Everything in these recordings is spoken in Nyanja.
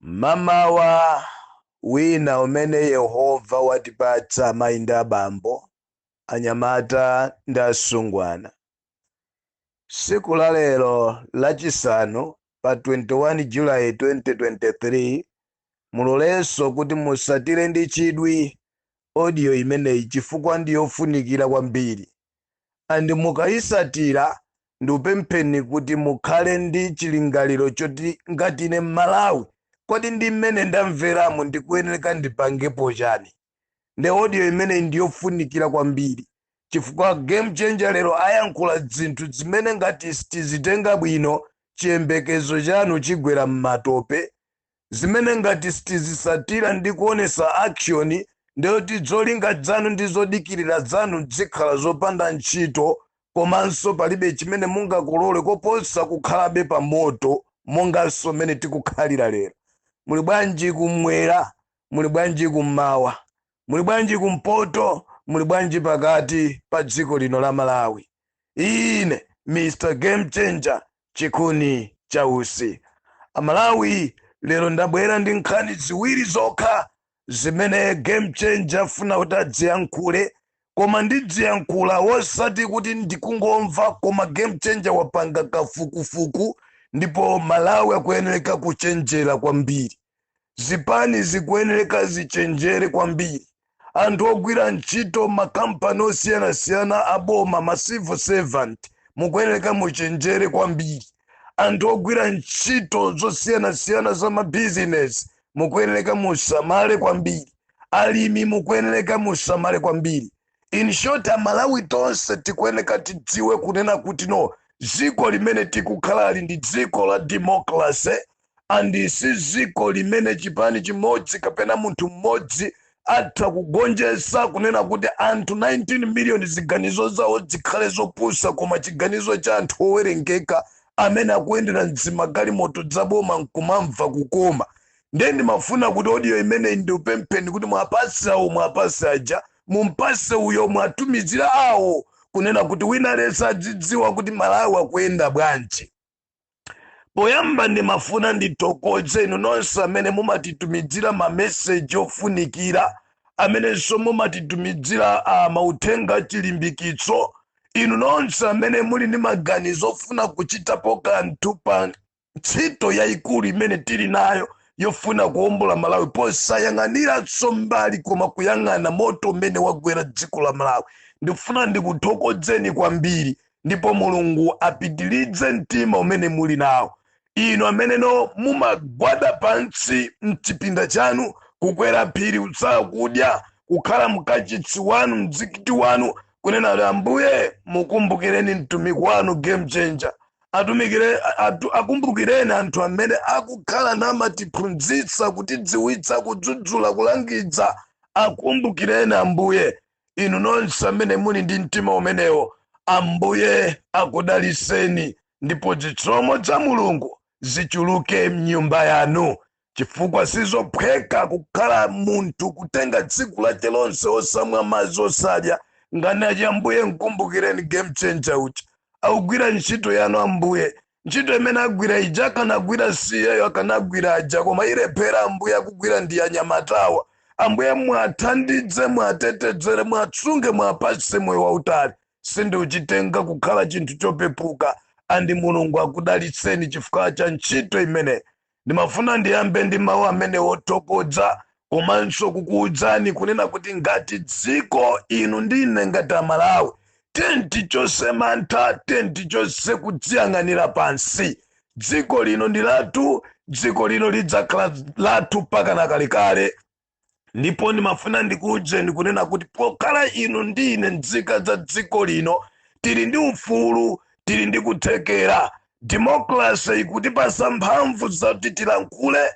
Mmamawa wina umene Yehova watipatsa amayi ndi abambo, anyamata ndi asungwana, tsiku la lero Lachisanu pa 21 July 2023, mulolenso kuti mutsatire ndi chidwi audio imeneyi chifukwa ndi yofunikira kwambiri and mukayisatira ndikupempheni kuti mukhale ndi chilingaliro choti ngati ine mmalawi kodi ndi mmene ndamveramo ndikuyenereka ndipangepo chani nde audio imeneyi ndiyofunikira kwambiri chifukwa game changer lero ayankhula dzinthu dzimene ngati sitizitenga bwino chiyembekezo chanu chigwera mmatope zimene ngati sitizisatila ndi kuonesa action nde kuti dzolinga dzanu ndi zodikilila dzanu dzikhala zopanda ntchito komanso palibe chimene mungakolole koposa kukhalabe pa moto monganso mmene tikukhalila lero. Muli bwanji kumwera? Muli bwanji kummawa? muli bwanji kumpoto muli bwanji pakati pa dziko lino la malawi ine mr game changer chikuni cha utsi amalawi lero ndabwera ndi nkhani ziwiri zokha zimene game changer afuna kuti adziyankhule koma ndidziyankhula wosati kuti ndikungomva koma game changer wapanga kafukufuku ndipo malawi akuyenereka kuchenjera kwambiri zipani zikuyenereka zichenjere kwambiri, anthu ogwira ntchito makampani osiyanasiyana aboma ma civil servant mukuyenereka muchenjere kwambiri, anthu ogwira ntchito zosiyanasiyana za ma business mukuyenereka musamale kwambiri, alimi mukuyenereka musamale kwambiri. In short amalawi tonse tikuyenereka tidziwe kunena kuti no dziko limene tikukhalali ndi dziko la democracy and si ziko limene chipani chimodzi kapena munthu mmodzi atha kugonjesa kunena kuti anthu 19 million ziganizo zawo zikhale zopusa koma chiganizo cha anthu owerengeka amene akuyendera mzimagalimoto dzaboma nkumamva kukoma ndiye ndimafuna kuti odiyo imeneyi ndiupempheni kuti mwapase awo mwapase aja mumpase uyo mwatumizira awo kunena kuti wina aliyense adzidziwa kuti malawi akuyenda bwanji poyamba ndimafuna ndithokoze inu nonse amene mumatitumidzira mameseji ofunikira amenenso mumatitumidzira uh, mauthenga achilimbikitso inu nonse amene muli ndi maganizo ofuna kuchitapo kanthu pa ntchito yayikulu imene tili nayo yofuna kuwombola malawi posayang'aniranso mbali koma kuyang'ana moto umene wagwera dziko la malawi ndifuna ndikuthokozeni kwambiri ndipo mulungu apitilidze mtima umene muli nawo inu ameneno mumagwada pansi mchipinda chanu kukwera phiri kutsala kudya kukhala mkachitsi wanu mzikiti wanu kunena kuti ambuye mukumbukireni mtumiki wanu game changer akumbukireni anthu amene akukhala namatiphunzitsa kutidziwitsa kudzudzula kulangidza akumbukireni ambuye Inu nonse amene muli ndi mtima umenewo, Ambuye akudaliseni ndipo zitsomo za Mulungu zichuluke mnyumba yanu, chifukwa sizophweka kukhala munthu kutenga tsiku lake lonse osamwa madzi osadya nkhani yake. Ambuye mkumbukireni game changer uja akugwira ntchito yanu Ambuye, ntchito imene agwira ija akanagwira si iyeyo akanagwira aja koma ilephera ambuye akugwira ndi anyamatawa ambuye mwathandidze mwatetedzere mwatsunge mwapatse moyo wautali sindikuchitenga kukhala chinthu chopepuka and mulungu akudalitseni chifukwa cha ntchito imeneyo ndimafuna ndiyambe ndi mawu amenewo othokodza komanso kukuwudzani kunena kuti ngati dziko inu ndi ine ngati amalawi tiyeni tichose mantha tiyeni tichose kudziyang'anira pansi dziko lino ndi lathu dziko lino lidzakhala lathu mpaka nakalekale ndipo ndimafuna ndikuwudzeni kunena kuti pokhala inu ndi ine nzika za dziko lino tili ndi ufulu tili ndi kuthekera demokrase ikutipasa mphamvu zoti tilankhule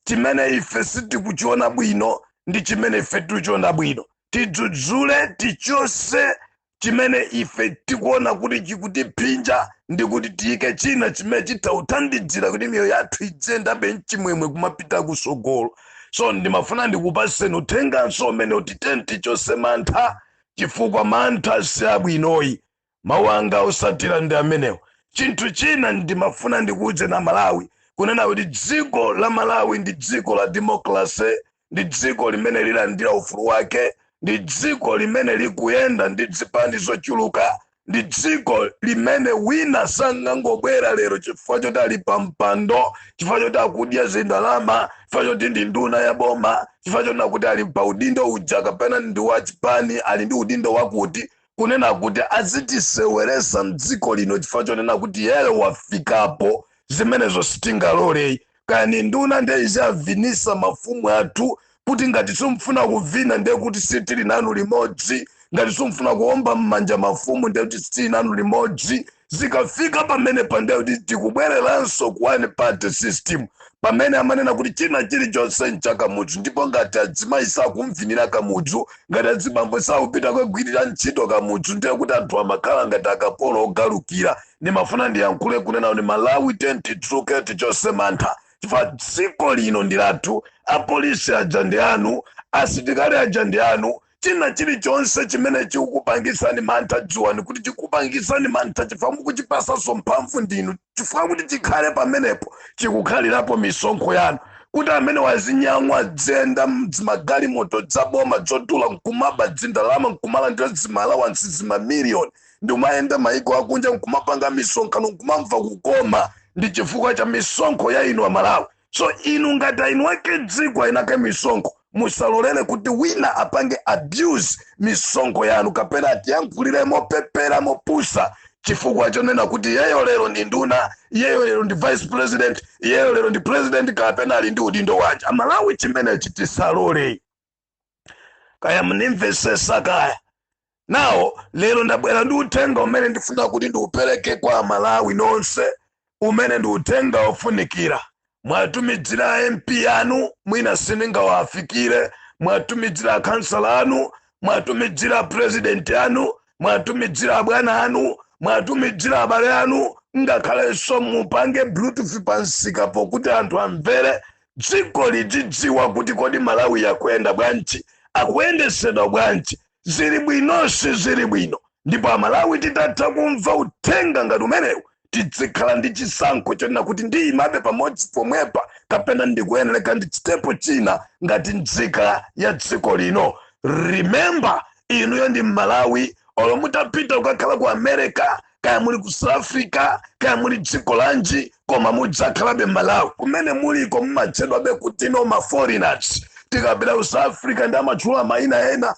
chimene ife sitikuchiona bwino ndi chimene ife tikuchiona bwino tidzudzule tichose chimene ife tikuona kuti chikutiphinja ndi kuti tiyike china chimene chitawuthandidzira kuti miyoyo yathu idziyendabe mchimwemwe kumapita kusogolo so ndimafuna ndikupaseni uthenganso umenewu kuti tiyeni tichose mantha chifukwa mantha si abwino ayi mawu anga osatira ndi amenewo chinthu china ndimafuna ndikuwudzeni amalawi kunena kuti dziko la malawi ndi dziko la demokrase ndi dziko limene lilandira ufulu wake ndi dziko limene likuyenda ndi dzipani zochuluka ndi dziko limene wina sangangobwera lero chifukwa choti ali pa mpando chifukwa choti akudya zindalama chifukwa choti ndi nduna ya boma chifukwa chonena kuti ali pa udindo uja kapena ndi wa chipani ali ndi udindo wakuti kunena kuti azitiseweresa mdziko lino chifukwa chonena kuti iye wafikapo zimenezo sitingalole kaya ni nduna nde izi avinisa mafumu athu kuti ngati simufuna kuvina nde kuti sitili nanu limodzi ngati simufuna kuomba mmanja mafumu nde kuti sitili nanu limodzi zikafika pamenepa nde kuti tikubwereranso ku one party system pamene amanena kuti china chilichonse ncha Kamudzu ndipo ngati adzimayi sakumvinira kamudzu ngati adzibambo sakupita kukagwirira ntchito kamudzu ndiye kuti anthu amakhala ngati akapolo ogalukira ndimafuna ndiyankhule kunena kuti malawi tiyeni tidzuke tichose mantha chifukwa dziko lino ndi lathu apolisi aja ndi anu asitikali aja ndi anu china chilichonse chimene chikukupangitsani mantha dziwani kuti chikupangitsani mantha chifukwa mukuchipasanso mphamvu ndinu chifukwa kuti chikhale pamenepo chikukhalirapo misonkho yanu kuti amene wazinyamwa dziyenda zimagalimoto dzaboma dzodula nkumaba dzindalama nkumalandira zimalawansi zimamiliyoni Ndikumayenda maiko akunja nkumapanga misonkhano nkumamva kukoma ndi chifukwa cha misonkho ya inu amalawi so inu ngati eni ake dziko eni ake misonkho musalolere kuti wina apange abuse misonkho yanu kapena atiyankhulire mopepera mopusa chifukwa chonena kuti iyeyo lero ndi nduna iyeyo lero ndi vice president iyeyo lero ndi president kapena ali ndi udindo wanji amalawi chimenechi tisalole kaya mundimvesesa kaya now lero ndabwera ndi uthenga umene ndifuna kuti ndiupereke kwa amalawi nonse umene ndi uthenga wofunikira mwatumidzira a mp anu mwina sindingawafikire mwatumidzira akhansala anu mwatumidzira apurezidenti anu mwatumidzira abwana anu mwatumidzira abale anu ngakhalenso mupange bluetooth pamsikapo kuti anthu amvere dziko lidzidziwa kuti kodi malawi akuyenda bwanji akuyendesedwa bwanji zili bwino sizili bwino ndipo amalawi tikatha kumva uthenga ngati umenewu tidzikhala ndi chisankho chonena kuti ndiyimabe pamodzi pomwepa kapena ndikuyeneleka ndichitepo china ngati nzika ya dziko lino remember inuyo ndi mmalawi olo mutapita kukakhala ku america kaya muli ku south africa kaya muli dziko lanji koma mudzakhalabe mmalawi kumene muliko mumatchedwabe kuti ndinu maforeigners tikapita ku south africa nde amatchula mayina ena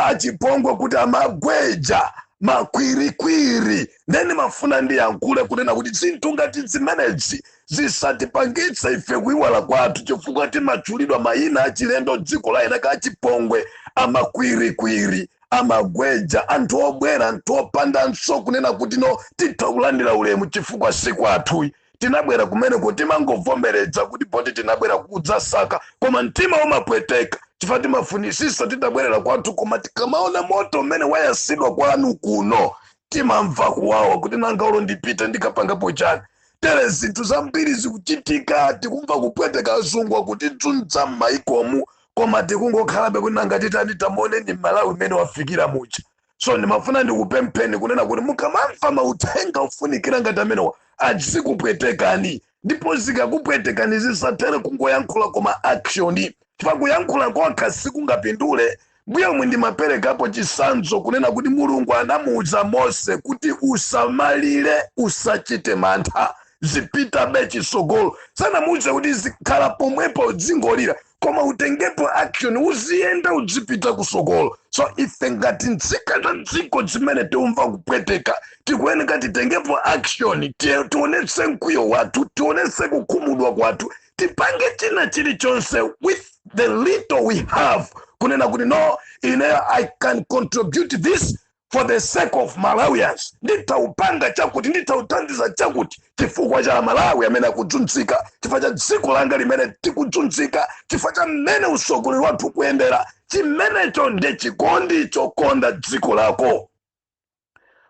achipongwe kuti amagweja makwirikwiri nde nimafuna ndiyankhule kunena kuti zinthu ngati zimenezi zisatipangitse ife kuiwala kwathu chifukwa timatchulidwa mayina achilendo dziko la eni ake achipongwe amakwirikwiri amagweja anthu obwera anthu opandanso kunena kuti no titha kulandira ulemu chifukwa si kwathu tinabwera kumeneko timangovomereza kuti poti tinabwera kudzasaka koma mtima umapweteka chifukwa timafunisisa titabwerera kwathu koma tikamaona moto umene wayasidwa kwanu kuno timamva kuwawa kuti nanga olo ndipite ndikapangapo chani tere zinthu zambiri zikuchitika tikumva kupweteka azungu akutidzunza m'mayikomu koma tikungokhalabe kuti nanga titani tamuoneni mmalawi mmene wafikira muja so ndimafuna ndikupempheni kunena kuti mukamamva mauthenga ofunikira ngati amenewa azikupwetekani ndipo zikakupwetekani zisathere kungoyankhula koma action chifukwa kuyankhula kokha sikungapindule mmomwe ndimaperekapo chisanzo kunena kuti mulungu anamuuza mose kuti usamalire usachite mantha zipitabe chisogolo sanamuuze kuti zikhala pomwepo dzingolira koma utengepo action uziyenda udzipita kusogolo so ife ngati nzika za dziko zimene tiumva kupweteka tikuyeneka titengepo action ti- tionetse mkwiyo wathu tionetse kukhumudwa kwathu tipange china chilichonse with the little we have kunena kuti no ineyo i can contribute this for the sake of malawians nditaupanga chakuti nditauthandiza chakuti chifukwa cha amalawi amene akudzunzika chifukwa cha dziko langa limene likudzunzika chifukwa cha mmene usogoleri wathu ukuyendera chimenecho ndi chikondi chokonda dziko lako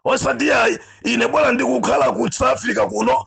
osati ayi ine bwana ndikukhala ku south africa kuno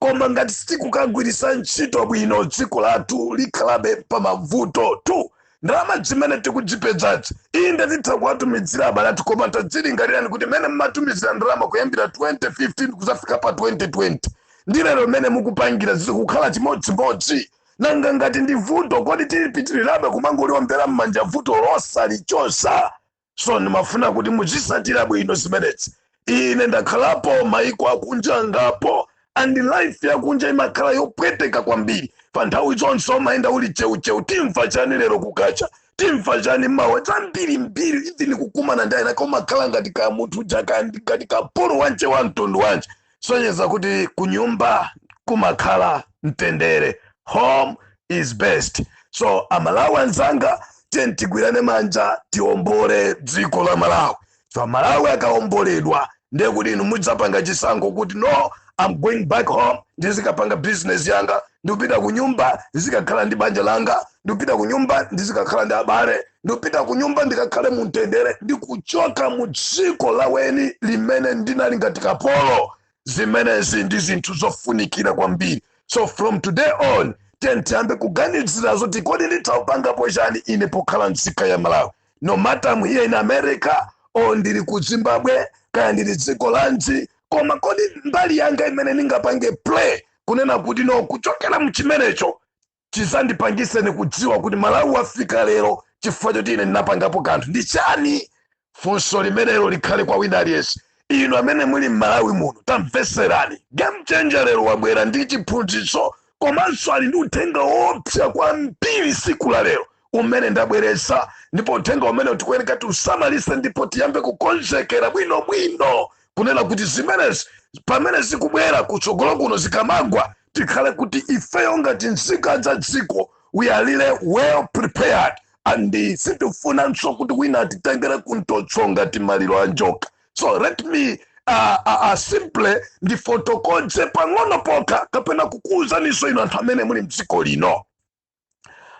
Koma ngati sitikukagwiritsa ntchito bwino dziko lathu likhalabe pamavutotu. Ndalama zimene tikudzipedzazi, inde titha kuwatumidzira abale athu koma tadzilingalirani kuti mene mmatumizira ndalama kuyambira 2015 kuzafika pa 2020 ndi lero mene mukupangira zikukhala chimodzimodzi? Nanga ngati ndi vuto kodi tipitirirabe kumangoliombera mmanja vuto losalichosa? so ndimafuna kuti muzisatira bwino zimenezi ine ndakhalapo maiko akunja angapo and life yakunja imakhala yopweteka kwambiri chifukwa nthawi zonse umayenda uli cheucheu timva chani lero kukacha timva chani mawa zambirimbiri even kukumana ndi ena umakhala ngati ka munthu uja ka ngati kapolo wanje wa mtundu wanje sonyeza kuti kunyumba kumakhala mtendere home is best so amalawi anzanga tiyeni tigwirane manja tiombole dziko la malawi so malawi akaomboledwa ndiye kuti inu mudzapanga chisankho kuti no I'm going back home ndizikapanga business yanga ndikupita kunyumba ndizikakhala ndi banja langa ndikupita kunyumba ndizikakhala ndi abale ndikupita ku nyumba ndikakhale mu mtendere ndi kuchoka mu dziko la eni limene ndinali ngati kapolo zimenezi ndi zinthu zofunikira kwambiri so from today on tiyeni tiyambe kuganizira zoti kodi nditaupangapo chani ine pokhala mzika ya malawi no matter I'm here in america or ndili ku zimbabwe kaya ndili dziko lanji koma kodi mbali yanga imene ningapange play kunena kuti no kuchokera mchimenecho chizandipangitse ine kudziwa kuti malawi wafika lero chifukwa choti ine ndinapangapo kanthu ndi chani funso limenelo likhale kwa wina aliyense inu amene muli m'malawi muno tamveserani game changer lero wabwera ndi chiphunzitso komanso ali ndi uthenga woopsa kwambiri siku la lero umene ndabweretsa ndipo uthenga umene tikuyeneka tiusamalise ndipo tiyambe kukonzekera bwinobwino kunena kuti zimenezi pamene zikubwera kutsogolo kuno zikamagwa tikhale kuti ifeyo ngati nzika za dziko we are really well prepared and sitifunanso kuti wina atitengere kumtoso ngati maliro a njoka so let me uh, uh, uh, simply ndifotokoze pang'ono pokha kapena kukuwuzaniso inu anthu amene muli mdziko lino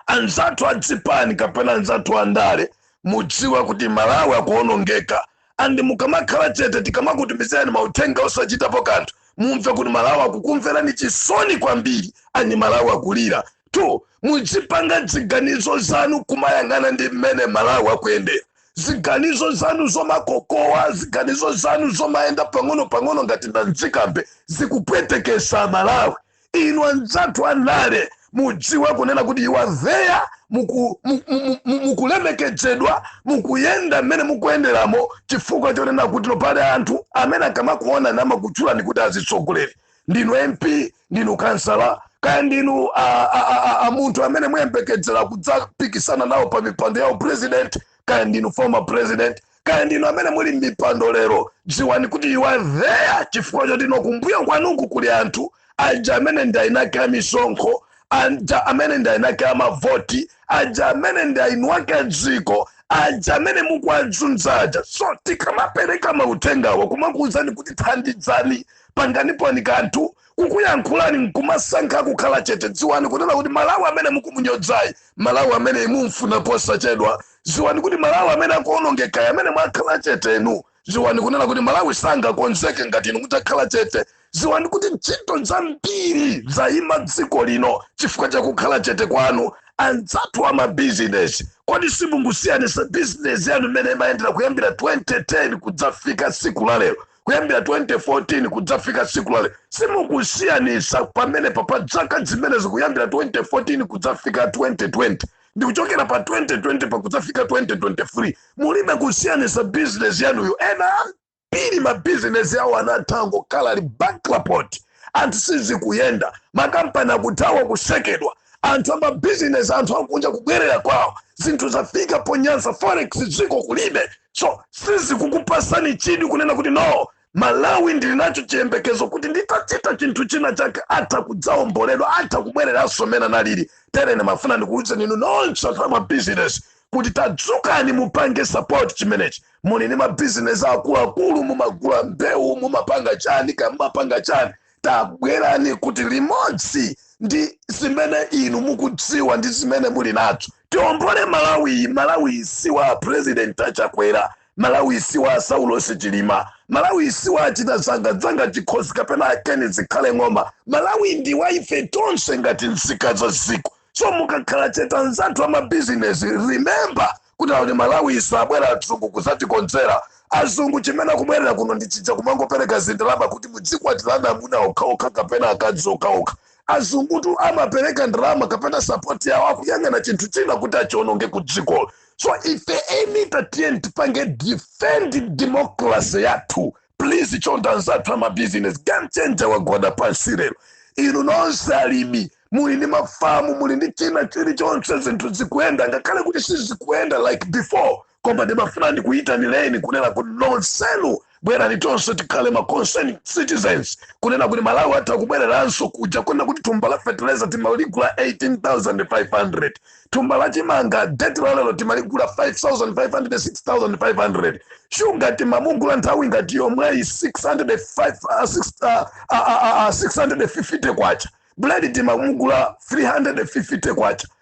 anzathu a zipani kapena anzathu a ndale mudziwe kuti malawi akuonongeka and mukamakhala chete tikamakutumizirani mauthenga osachitapo kanthu mumve kuti malawi akukumverani chisoni kwambiri and malawi akulira. Two mudzipanga ziganizo zanu kumayang'ana ndi mmene malawi akuyendera ziganizo zanu zomakokowa ziganizo zanu zomayenda pang'ono pang'ono ngati nadzikambe zikupweteketsa malawi inu anzathu andale mudziwe kunena kuti you are there muku- mu- mu- mu- mukulemekedzedwa mukuyenda mmene mukuyenderamo chifukwa chonena kuti no pali anthu amene akamakuonani amakutchulani kuti azitsogoleri ndinu mp ndinu kansala kaya ndinu a- a- a- a- a munthu amene muyembekezera kudzapikisana nawo pa mipando ya upresident kaya ndinu former president kaya ndinu amene muli m'mipando lero dziwani kuti you are there chifukwa choti no kumbuyo kwanuku kuli anthu aja amene ndi eni ake a misonkho aja amene ndi eni ake a mavoti aja amene ndi eni ake a dziko aja amene mukuwazunza aja so tikamapereka mauthengawa kumakuwuzani kuti thandizani panganiponi kanthu kukuyankhulani nkumasankha kukhala chete dziwani kunena kuti malawi amene mukumunyozayi malawi amene mumfuna posachedwa ziwani kuti malawi amene akuonongekayi amene mwakhala chete inu ziwani kunena kuti malawi sangakonzeke ngati inu mutakhala chete ziwani kuti ntchito zambiri zayima dziko lino chifukwa chakukhala chete kwanu anzathu a mabizinesi kodi simukusiyanitsa bizinesi yanu mmene imayendera kuyambira 2010 kudzafika siku la lero kuyambira 2014 kudzafika tsiku la lero simukusiyanisa pamenepa pa zaka zimenezi kuyambira 2014 kudzafika 2020 ndi kuchokera pa 2020 pa kudzafika 2023 mulibe kusiyanisa bizinesi yanuyo ena ambiri mabizinesi awo anatha angokhala ali bankrupt anthu sizikuyenda makampani akuthawa kutsekedwa anthu amabizinesi anthu akunja kubwerera kwawo zinthu zafika ponyansa forex dziko kulibe so sizikukupatsani chidwi kunena kuti no malawi ndili nacho chiyembekezo kuti nditachita chinthu china chake atha kudzaomboledwa atha kubwereranso mmene analili terere ndimafuna ndikuwuzeni inu nonse anthu ama business kuti tadzukani mupange support chimenechi muli ndi mabizinesi akuluakulu mumagula mbewu mumapanga chani kaya mumapanga chani tabwerani kuti limodzi ndi zimene inu mukudziwa ndi zimene muli nazo Tiombole Malawiyi, Malawiyi si wa a President a Chakwera, Malawiyi si wa a Saulos Chilima, Malawiyi si wa a Chinazanga Dzanga Chikhozi kapena a Ken Zikhale Ng'oma, Malawiyi ndi wa ife tonse ngati nzika za dziko. So mukakhala chete anzathu amabizinesi, remember kuti akuti Malawiyi sabwera adzungu kudzatikonzera. Azungu chimene akubwerera kuno ndi chija chomangopereka zindalama kuti mudzikwatirana amuna okhaokha kapena akazi okhaokha. azungutu amapereka ndalama kapena sapoti yawo akuyang'ana chinthu china kuti achiononge ku dziko so ife eni tatiyeni tipange defend democracy yathu please chonda anzathu amabizinesi game changer wagwada pansi lero inu nonse alimi muli ndi mafamu muli ndi china chilichonse zinthu zikuyenda ngakhale kuti sizikuyenda like before koma ndimafuna ndikuyitanireni kunena kuti nonsenu bwerani tonse tikhale ma concerned citizens kunena kuti malawi atha kubwereranso kuja kunena kuti thumba la fertilizer timaligula 18500 thumba la chimanga deti la lero timaligula 5500 6500 shuga timamugula nthawi ngati yomweyi 605 ah, six- ah, ah, ah, ah, 650 kwacha buledi timamugula 350 kwacha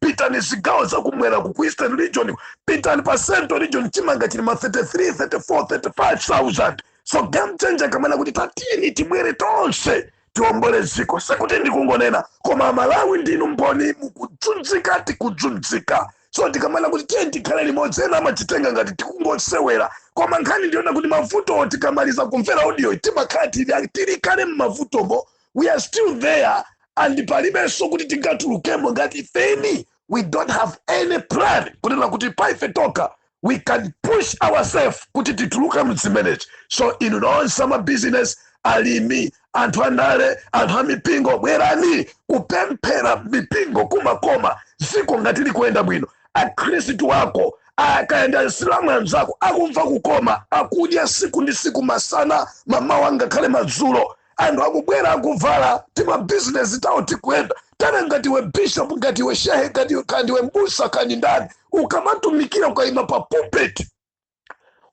pitani zigawo za kumwera ku ku eastern region pitani pa central region chimanga chili ma 33 34 35000 so game changer akamanena kuti tatiyeni tibwere tonse tiombole dziko sikuti ndikungonena koma amalawi ndinu mboni mukudzunzika tikudzunzika so tikamanena kuti tiyeni tikhale limodzi ena amachitenga ngati tikungosewera koma nkhani ndi yoona kuti mavutowo tikamaliza kumvera audio timakhala tili tili kale mmavutomo we are still there and palibenso kuti tingatulukemo ngati ifeni we don't have any plan kunena kuti pa ife tokha we can push ourselves kuti tituluke mzimenezi so inu nonse amabizinesi alimi anthu andale anthu amipingo bwerani kupemphera mipingo kumakoma dziko ngati likuyenda bwino akhristu ako akayenda asilamu anzako akumva kukoma akudya siku ndi siku masana mamawa ngakhale madzulo anthu akubwera akuvala tima business tawo tikuyenda tana ngati iwe bishop ngati iwe shehe ngati iwe kandi iwe mbusa kandi ndani ukamatumikira ukaima pa pulpit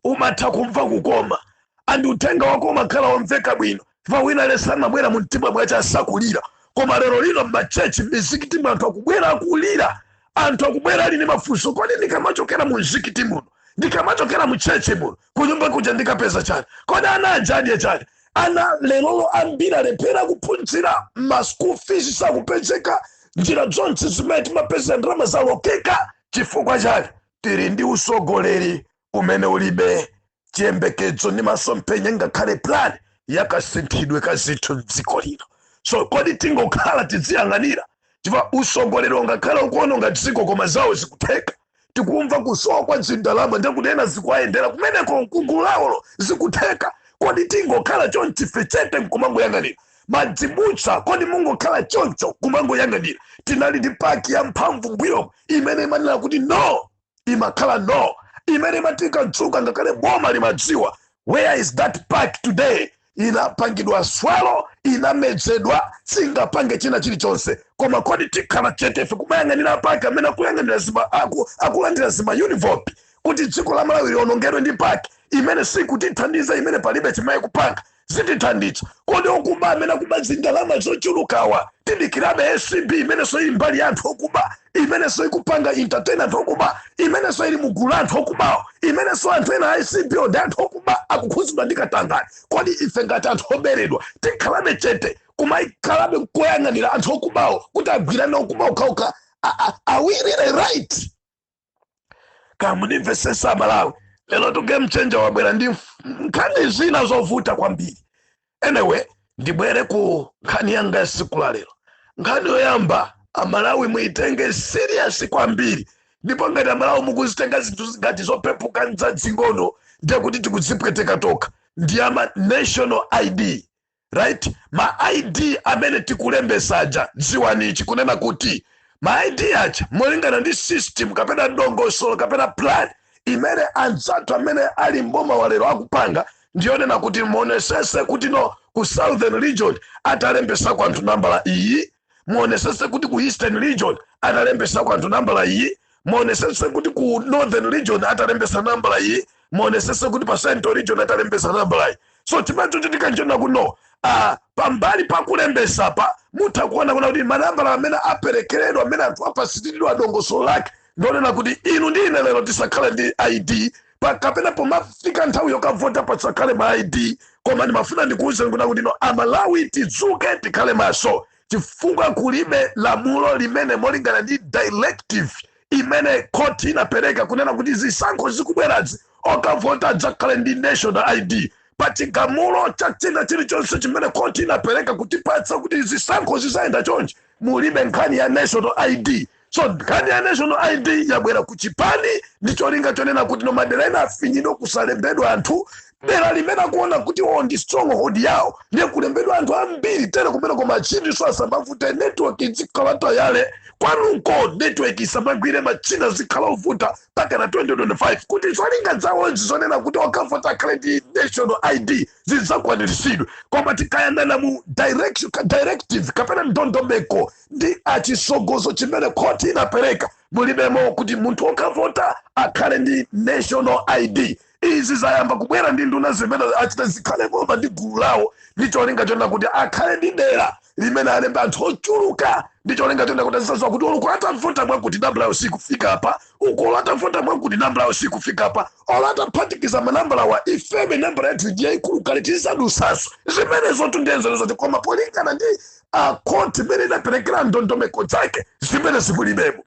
umatha kumva kukoma andi uthenga wako umakhala womveka bwino chifukwa wina aliyense amabwera mu mtima mwache asakulira koma lero lino mmachechi mmizikiti anthu akubwera akulira anthu akubwera ali ndi mafunso kodi ndikamachokera mu mzikiti muno ndikamachokera mu chechi muno kunyumba kuja ndikapeza chani kodi ana ajadye chani ana lerolo ambiri alephera kuphunzira ma school fees sakupezeka njira zonse zimene timapeza ndalama zalokeka chifukwa chani tili ndi usogoleri umene ulibe chiyembekezo ndi masomphenya ngakhale plan yakasinthidwe ka zinthu mdziko lino so kodi tingokhala tidziyang'anira chifukwa usogoleri ungokhala ukuononga dziko koma zawo zikutheka tikumva kusowa kwa zindalama ndiye kuti ena zikuwayendera kumeneko mkugulu lawolo zikutheka kodi tingokhala chonchi ife chete nkumangoyang'anira mazibusa kodi mungokhala choncho kumangoyang'anira tinali ndi PAC ya mphamvu mbuyomo imene imanena kuti no imakhala no imene imati ikadzuka ngakhale boma limadziwa where is that PAC today inapangidwa swallow inamezedwa singapange china chilichonse koma kodi tikhala chete ife kumayang'anira PAC amene akuyang'anira zima aku, akulandira zima uniform kuti dziko la malawi lionongedwe ndi PAC imene sikutithandiza imene palibe chimene ikupanga zotithandiza kodi okuba amene akuba zindalama zochulukawa tidikirabe acb imenenso ili mbali ya anthu okuba imenenso ikupanga entertain anthu okuba imenenso ili mugulu la anthu okubawo imenenso anthu ena a acb-wo ndi anthu okuba akukhudzidwa ndi katangale kodi ife ngati anthu oberedwa tikhalabe chete kumayikhalabe nkoyang'anira anthu okubawo kuti agwirane okuba okhaokha are we really right kamundimvetsetsa amalawi lero tu game changer wabwera ndi nkhani zina zovuta kwambiri anyway ndibwere ku nkhani yanga yasiku la lero nkhani yoyamba amalawi muitenge serious kwambiri ndipo ngati amalawi mukuzitenga zinthu ngati zopepuka nzadzing'ono ndiye kuti tikuzipweteka tokha ndi yama national id right ma id amene tikulembesa aja dziwani ichi kunena kuti ma id aja molingana ndi system kapena dongosolo kapena plan imene anzathu amene ali mboma walero akupanga ndiyonena kuti muonesese kutino ku southern region atalembesa kwanthu nambala iyi muonesese kuti ku eastern region atalembesako anthu nambala iyi muonesese kuti ku northern region atalembesa nambala iyi muonesese kuti pa central region atalembesa nambala iyi so chimene chochitika nchonena kuno pambali pakulembesa pa mutha kuona kunena kuti manambala amene aperekeredwa amene anthu apasiridwa dongosolo lake ndionena kuti inu ndi ine lero tisakhale ndi id kapena pomafika nthawi yokavota pasakhale ma id koma ndimafuna ndikuwuzeni kunena kuti no amalawi tidzuke tikhale maso chifukwa kulibe lamulo limene molingana ndi directive imene khoti inapereka kunena kuti zisankho zikubwerazi okavota adzakhale ndi national id pa chigamulo cha china chilichonse chimene khoti inapereka kutipatsa kuti zisankho zizayenda chonchi mulibe nkhani ya national id so nkhani ya national id yabwera ku chipani ndi cholinga chonena kuti no madera ena afinyidwe kusalembedwa anthu dera limene akuona kuti ndi stronghold yawo ndiye kulembedwa anthu ambiri tere kumene koma machiniso asamavute network izikhala yatayale kwanuko network isamagwire machina azikhala ovuta mpaka na 2025 kuti zolinga zawozi zonena kuti okavota akhale ndi national id zidzakwaniritsidwe koma tikayang'ana mu directive kapena ndondomeko ndi chitsogozo chimene khoti inapereka mulibemo kuti munthu okavota akhale ndi national id izi zayamba kubwera ndi nduna zimene a chi a zikhale ngoma ndi gulu lawo ndi cholinga chonena kuti akhale ndi dera limene alembe anthu ochuluka ndi cholinga chonena kuti azizaziwa kuti olo uko atavota mwakuti nambala yawo sikufika apa uko olo atavota mwakuti nambala yawo sikufika apa olo ataphatikiza manambalawa ifene nambala yathu ndi yayikulu kale tizisadusaso zimenezo tungoyenzerezatu koma polingana ndi khoti imene inaperekera ndondomeko zake zimenezi mulibemo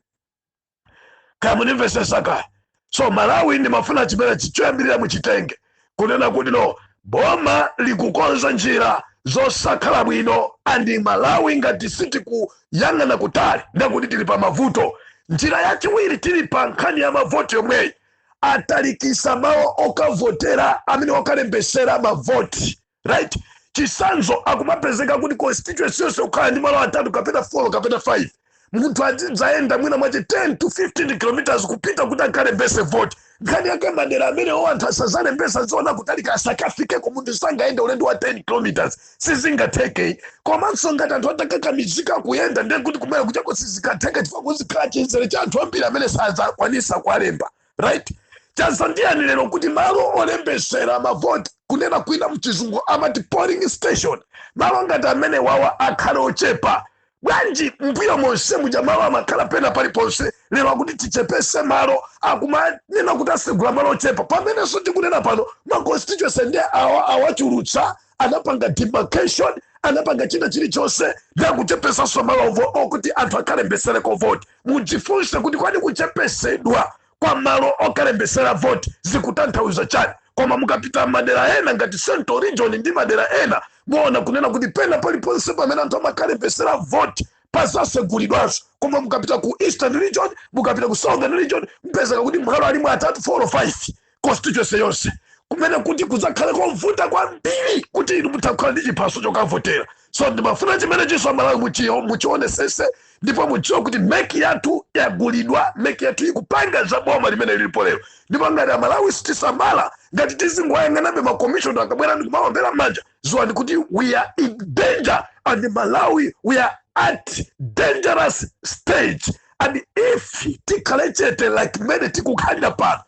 kaya mundimvesesa kaya so amalawi ndimafuna chimenechi choyambirira muchitenge kunena kuti no boma likukonza njira zosakhala bwino and amalawi ngati sitikuyang'ana kutali ndekuti tili pa mavuto njira yachiwiri tili pa nkhani ya mavoti yomweyi atalikisa malo okavotera amene okalembesera mavoti right chisanzo akumapezeka kuti constituency yonse kukhala ndi malo atatu kapena 4 kapena 5 munthu azidzayenda mwina mwache 10 to 15 kilometers kupita kuti akalembese vote nkhani yake madera amenewo anthu asazalembesa aziona kutalika asakafikeko munthu sangayende ulendo wa 10 kilometers sizingatheke komanso ngati anthu atakakamizika kuyenda ndiye kuti kumene kujako sizikatheka chifukwa kuzikhala chinzere cha anthu ambiri amene sazakwanisa kuwalemba right chadzani lero kuti malo olembesera mavoti kunena kwina mchizungu amati polling station malo ngati amene wawa akhale ochepa bwanji mbuyo monse muja malo amakhala pena paliponse lero akuti tichepese malo akumanena kuti asegula malo ochepa pamenenso tikunena pano ma constituency nde awa awachulutsa anapanga demarcation anapanga china chilichonse ndikuchepesanso malowo okuti anthu akalembesereko voti mudzifunse kuti kwani kuchepesedwa kwa malo okalembesera voti zikutanthauza chani koma mukapita madera ena ngati central region ndi madera ena muona kunena kuti pena paliponse pamene anthu amakalembesera voti pazasegulidwanso koma mukapita ku eastern region mukapita ku southern region mpezeka kuti malo alimo atatu 4 or 5 constituency yonse kumene kuti kudzakhale kovuta kwambiri kuti inu mutakhala ndi chiphaso chokavotera so ndimafuna chimenechiso amalawi muchio muchionesese ndipo mudziwe kuti MEC yathu yagulidwa MEC yathu ikupanga za boma limene lilipo lero ndipo ngati amalawi sitisamala ngati tizingoyang'anabe makomishona akabwera ndi kumawombera manja ziwani kuti we are in danger and malawi we are at dangerous stage and if tikhale chete like mmene tikukhalira pano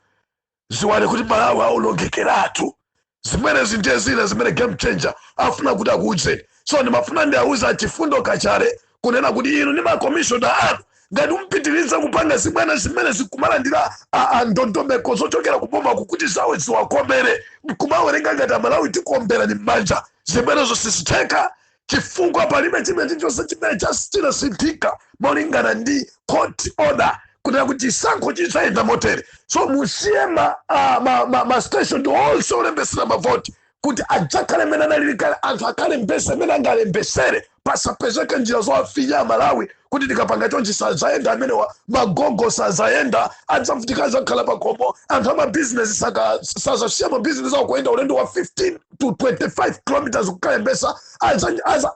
ziwani kuti malawi aonongekeratu zimenezi ndiye zina zimene game changer afuna kuti akuuzeni so ndimafuna ndiauza achifundo kachale kunena kuti inu ndi makomishona anu ngati mupitiriza kupanga zibwana zimenezi kumalandira a- a ndondomeko zochokera kuboma kukuti zawo ziwakomere mkumawerenga ngati amalawi tikuomberani m'manja zimenezo sizitheka chifukwa palibe china chilichonse chimene chinasinthika molingana ndi court order kunena kuti chisankho chidzayenda motere so musiye ma, uh, ma, ma, ma station onse olembesera mavoti kuti adzakhale mmene analili kale anthu akalembese mmene angalembesere pasapezeke njira zowafinya amalawi kuti tikapanga chonchi sazayenda amenewa magogo sazayenda adzavutika azakhala pakhomo anthu amabhizinesi sazasiya mabhizinesi awo kuyenda ulendo wa 15 to 25 kilometers kukalembesa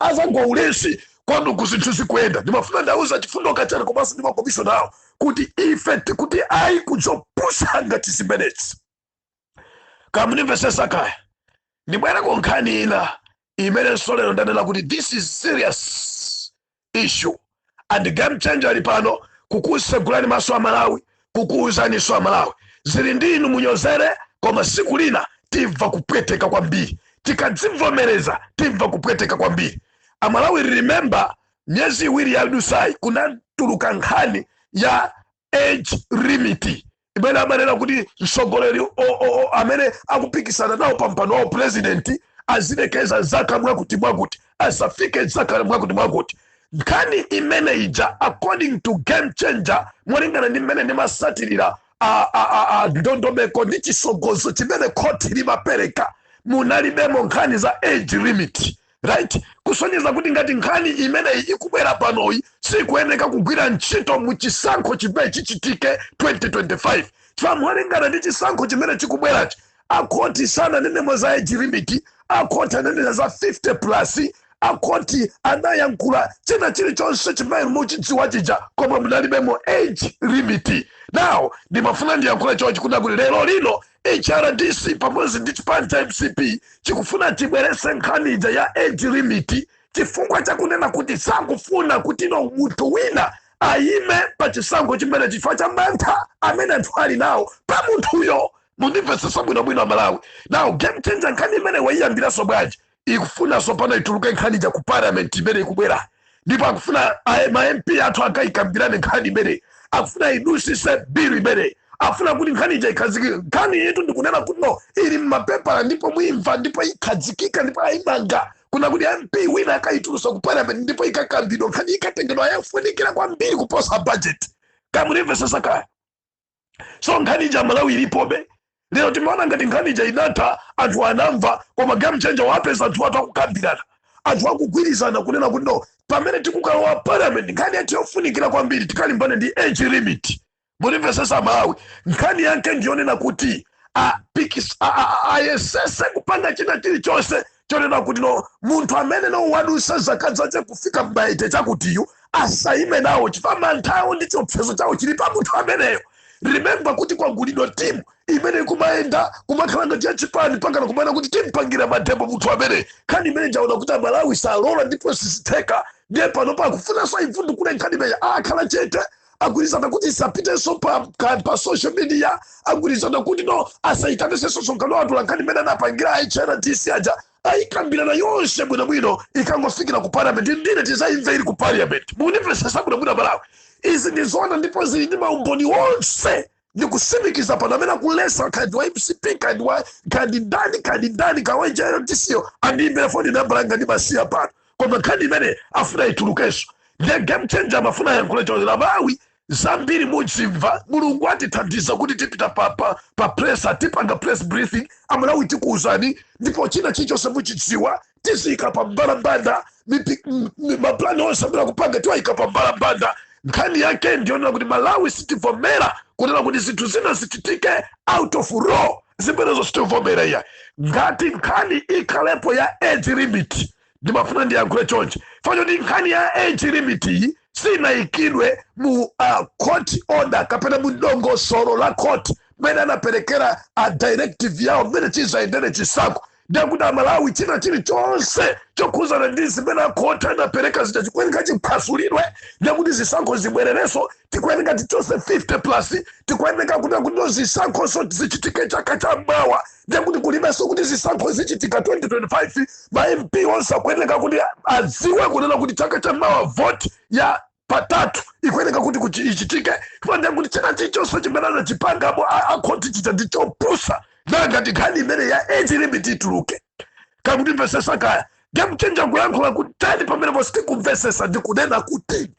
azagwa ulesi kwa inu kuti zinthu zikuyenda ndimafuna ndiauze achifundo kachale komanso ndi makomishona awo kuti ife tikuti ayi kuzopusa ngati zimenezi kaya mundimvesesa kaya ndibwera ku nkhani ina imenenso lero ndanena kuti this is serious issue and game changer ali pano kukusegulani maso a malawi kukuuzaniso a malawi zili ndi inu munyozere koma siku lina timva kupweteka kwambiri tikadzivomereza timva kupweteka kwambiri amalawi remember miyezi iwiri yadusayi kunatuluka nkhani ya age limit imene amanena kuti mtsogoleri o- o- o- amene akupikisana nawo pa mpando wa upurezidenti azilekeza zaka mwakuti mwakuti asafike zaka mwakuti mwakuti nkhani imene ija according to game changer molingana ndi mmene ndimasatirira a- a- a- a ndondomeko ndi chisogozo chimene khoti limapereka munalibemo nkhani za age limit right kusonyeza kuti ngati nkhani imeneyi ikubwera panoyi sikuyeneka kugwira ntchito mu chisankho chimene chichitike 2025 chifukwa molingana ndi chisankho chimene chikubwerachi akhoti sananenemo za age limit akhoti ananena za 50 plus akhoti anayankhula china chilichonse chimene muchidziwa chija koma munalibemo age limit now ndimafuna ndiyankhule chonchi kunena kuti lero lino HRDC pamodzi ndi chipani cha mcp chikufuna chibweretse nkhani ija ya age limit chifukwa chakunena kuti sakufuna kuti no munthu wina ayime pa chisankho chimene chifukwa cha mantha amene anthu ali nawo pa munthuyo mundimvetsetsa bwinobwino amalawi now game changer nkhani imene waiyambiranso bwanji ikufunanso pano ituluke nkhani ija ku parliament imene ikubwera ndipo akufuna a- ma mp athu akayikambirane nkhani imene akufuna idusise bilu imene afuna kuti nkhani ija ikhazikike nkhani yetu ndikunena kuti no ili mmapepala ndipo muimva ndipo ikhazikika ndipo ayimanga kunena kuti mp wina akayitulusa ku parliament ndipo ikakambidwa nkhani ikatengedwa yafunikira kwambiri kuposa budget kamunimvesesa kaya so nkhani ija malawi ilipobe lero timaona ngati nkhani ija inatha anthu anamva koma game changer wapeza anthu athu akukambirana anthu akugwirizana kunena kuti no pamene tikukalowa parliament nkhani yathu yofunikira kwambiri tikalimbane ndi age limit mundimvesesa malawi nkhani yake ndiyonena kuti apikis- a- a- a- ayesese kupanga china chilichonse chonena kuti no munthu amene no wadusa zaka zake kufika mma eight chakutiyu asaime nawo chifukwa mantha awo ndi chiopsezo chawo chili pa munthu ameneyo remember kuti kwagulidwa timu imene ikumayenda kumakhala ngati si ya chipani pakana kumanena kuti timpangira mademo munthu amene nkhani imene ija aona kuti amalawi salola ndipo sizitheka ndiye pano pakufunanso aivundukule nkhani imeneyi akhala chete agwirizana kuti isapitenso pa, ka- pa social media agwirizana kuti no asayitanisenso msonkhano wa atolankhani imene anapangira hrdc aja ayikambirana yonse bwinobwino ikangofikira ku parliament ndiye tizayimve ili ku parliament munimvesesa bwinobwino malawi izi ndi zoona ndipo zili ndi maumboni onse ndikutsimikiza pano amene akuletsa kaya ndi wa mcp kaya ndi wa kaya ndi ndani kaya ndi ndani kaya wa hrdc-yo andiimbire foni nambala yanga ndimaisiya pano koma nkhani imene afuna itulukenso ndiye game changer amafuna ayankhule chonchi amalawi zambiri muzimva mulungu atithandiza kuti tipita pa, pa, pa press atipanga press briefing amalawi tikuwuzani ndipo china chilichonse muchidziwa tiziyika pa mbalambanda maplani onse amene akupanga tiwayika pa mbalambanda nkhani yake ndiyonena kuti malawi sitivomera kunena kuti zinthu zina zichitike out of law zimenezo sitivomera iya ngati nkhani ikhalepo ya age limit ndimafuna ndiyankhule chonchi number one nkhani ya age limit iyi sinayikidwe mu court order kapena mu dongosolo la court mmene anaperekera directive yawo mmene chizayendere chisankho ndiye kuti amalawi china chilichonse chokhuzana ndi zimene akhoti anapereka zija chikuyeneka chiphwasulidwe ndiye kuti zisankho zibwererenso tikuyeneka tichose 50 plus tikuyeneka kuti zisankhoso zichitike chaka cha mawa ndiye kuti kulibenso kuti zisankho zichitika 2025 ma mp onse akuyeneka kuti adziwe kunena kuti chaka cha mawa vote ya patatu ikuyeneka kuti kuti ichitike ndiye kuti china chilichonse chimene anachipangamo akhoti chija ndi chopusa nanga ngati nkhani imene ya age limit ituluke akutimvesesa kaya game changer kuyankhula kutani pamene pasakumvesesa ndi kunena kuti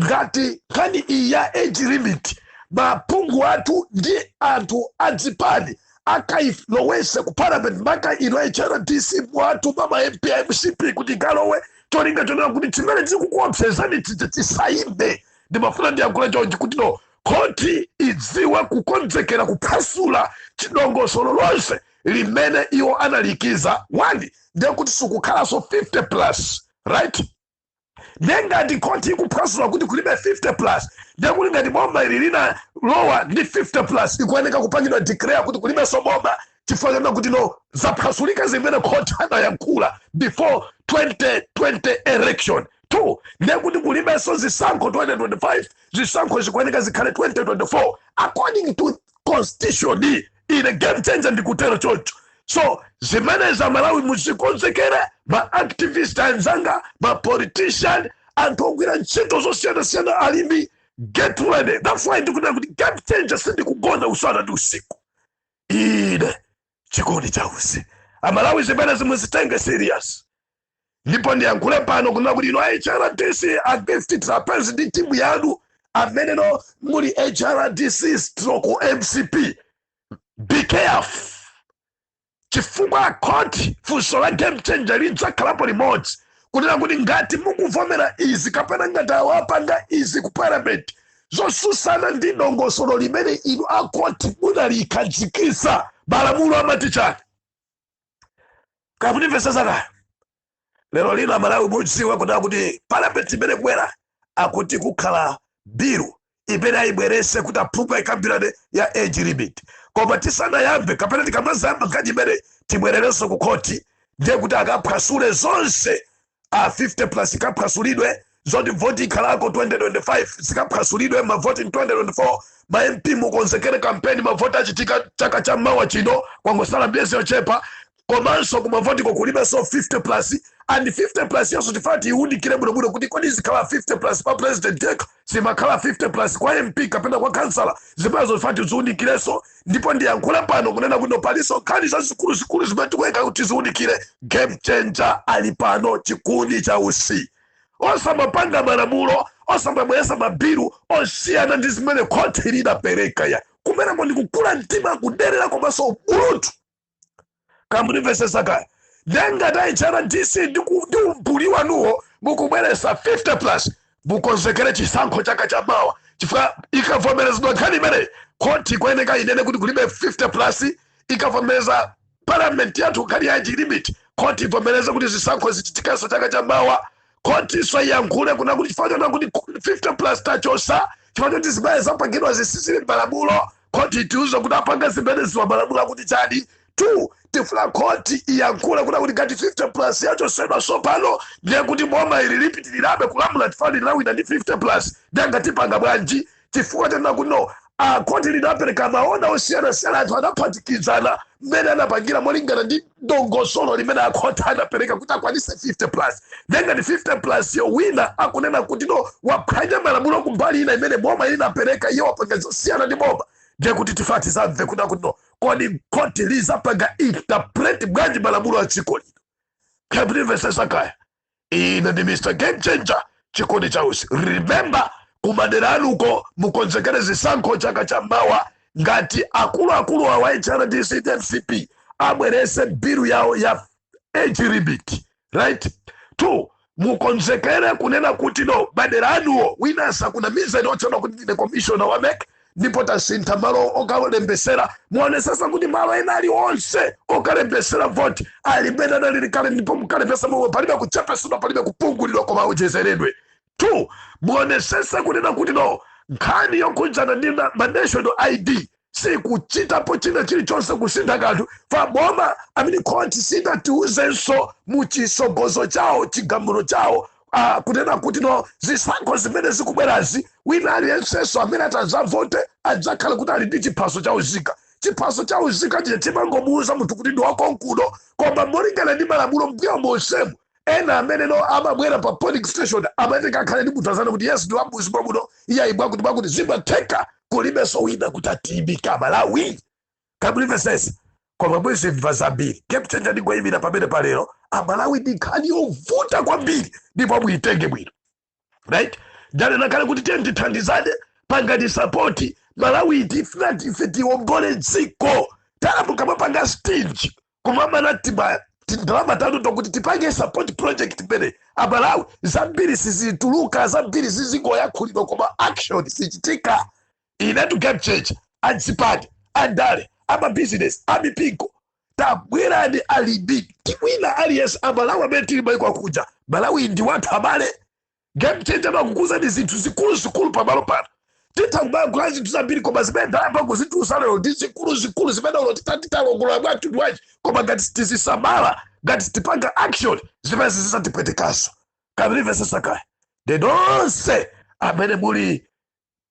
ngati nkhani iyi ya age limit maphungu athu ndi anthu adzipani akailowese ku parliament maka inu hrdc mwatuma ma mp a mcp kuti ikalowe cholinga chonena kuti chimene chikukuopsezani chija chisaime ndimafuna ndiyankhule chonchi kuti no khoti idziwe kukonzekera kuphwasula chidongosolo lonse limene iwo analikiza wani ndiye kuti sikukhalanso 50 plus right nde ngati khoti ikuphwasula kuti kulibe 50 plus ndekuti ngati boma ili linalowa ndi 50 plus ikuyeneka kupangidwa declare kuti kulibenso boma chifukwa chona kuti no zaphwasulika zimene khoti anayankhula before 2020 election two ndekuti kulibenso zisankho 2025 zisankho zikuyeneka zikhale 2024 according to constitution ine game changer ndikutero choncho so zimenezi amalawi muzikonzekere ma activist anzanga ma politician anthu ogwira ntchito zosiyanasiyana alimi get ready that's why ndikunena kuti game changer sindikugona usana ndi usiku ine chikondi chausi amalawi zimenezi muzitenge serious ndipo ndiyankhule pano kunena kuti inu a hrdc a gift trapence ndi timu yanu amene inu muli hrdc stroke mcp be careful chifukwa akhoti funso la game changer lidzakhalapo limodzi kunena kuti ngati mukuvomera izi kapena ngati awa apanga izi ku parliament zosusana ndi dongosolo limene inu akhoti munalikhazikisa malamulo amati chani kamundimvesesa kaya lero lino amalawi mudziwa kunena kuti parliament imene ikubwera akuti kukhala bill imene ayibwerese kuti aphungu ayikambirane ya age limit koma tisanayambe kapena tikamazayamba nkhani imeneyi tibwererenso ku khoti ndiye kuti akaphwasule zonse a 50 plus ikaphwasulidwe zoti voti ikhalako 2025 zikaphwasulidwe mavoti in 2024 ma mp mukonzekere kampeni mavoti achitika chaka cha mawa chino kwangosala miyezi yochepa komanso kumavotiko kulibenso 50 plus and 50 plus yonso tifuna tiiwunikire bwinobwino kuti kodi izikhala 50 plus pa president yekha zimakhala 50 plus kwa mp kapena kwa kansala zimenezo tifuna tiziunikireso ndipo ndiyankhula pano kunena kuti paliso nkhani zazikuluzikulu zimene tikuyenera kuti tiziunikire game changer ali pano chikuni cha usi osamapanga malamulo osamabweresa mabilu osiyana ndi zimene khoti lidapereka ya kumeneko ndikukula mtima kuderera komanso ubulutu kamundimvesesa kaya nde ngati hrdc ndi ku- ndi umbuli wanuwo mukubweresa 50 plus mukonzekere chisankho chaka cha mawa chifukwa ikavomerezedwa nkhani imeneyi khoti ikuyeneka inene kuti kulibe 50 plus ikavomereza parliament yathu nkhani ya age limit khoti ivomereze kuti zisankho zichitikenso chaka cha mawa khotinso iyankhule kunena kuti chifukwa chonena kuti 50 plus tachosa chifukwa choti zimene zapangidwa sizili m'malamulo khoti itiuze kuti apanga zimeneziwa malamulo akuti chani two tifuna khoti iyankhule kunena kuti ngati 50 plus yachosedwa sopano ndiye kuti boma ili lipitirirabe kulamula chifukwa lidawina ndi 50 plus ndiye nanga tipanga bwanji chifukwa chonena kuti no khoti linapereka ma order osiyanasiyana anthu anaphatikizana mmene anapangira molingana ndi dongosolo limene akhoti anapereka kuti akwanise 50 plus nde ngati 50 plus yo wina akunena kuti no waphwanya malamulo kumbali ina imene boma linapereka iye wapanga zosiyana ndi boma ndiye kuti tifuna tizamve kunena kuti no kodi khoti lizapanga interpret bwanji malamulo a dziko lino kamundimvesesa kaya ine ndi mr game changer chikuni cha usi remember kumadera anuko mukonzekere zisankho chaka cha mawa ngati akuluakulu awa hrdc ndi mcp abwerese bilu yawo ya age limit right two mukonzekere kunena kuti no madera anuwo wina asakunamizeni otchedwa kuti ndine commissioner wa mec ndipo tasintha malo okalembesera muonesesa kuti malo ena ali onse okalembesera voti ali mmene anali kale ndipo mukalembesa momwe palibe kuchepesedwa palibe kupungulidwa koma awonjezeredwe two muonesesa kunena kuti no nkhani yokhudzana ndi na- ma national id sikuchitapo china chilichonse kusintha kanthu chifukwa boma amene khoti sidatiuzenso mu chisogozo chawo chigamulo chawo ah, kunena kuti no zisankho zimene zikubwerazi wina aliyensenso amene atazavote adzakhala kuti ali ndi chiphaso cha uzika chiphaso cha uzika chija chimangomuuza munthu kuti ndi wakonkuno koma molingana ndi malamulo mbuyo monsemu ena amene no amabwera pa polling station amayeneka akhale ndi munthu azanena kuti yes ndi wammudzi mwamuno iye ayibwa kuti mwakuti zimatheka kulibenso wina kuti atiyimika malawi Kamundimvetsetsa koma muzimva zambiri game changer ndingoyimira pamene palero amalawi ndi nkhani yovuta kwambiri ndipo muyitenge bwino right ndanena kale kuti tiyeni tithandizane pangani sapoti malawi tifuna tife tiombole dziko talamuka mumapanga stingy kumamana timatindalama tanu tokuti tipange support project imene amalawi zambiri sizituluka zambiri zizingoyankhulidwa koma action sichitika inetu game changer anzipani andale amabizinesi amipingo tabwerani ali ndi tiwina aliyense amalawi amene tili maiko akuja malawi ndi wathu abale game changer amakuuzani zinthu zikuluzikulu pamalo pano titha kumayankhula zinthu zambiri koma zimene ndayamba kukuuzani lero ndi zikuluzikulu zimene ulo titalongolola bwathu ndi wachi koma ngati sitizisamala ngati sitipanga action zimene zizatipwetekanso kamene mvetsetsa kaya ndi nonse amene muli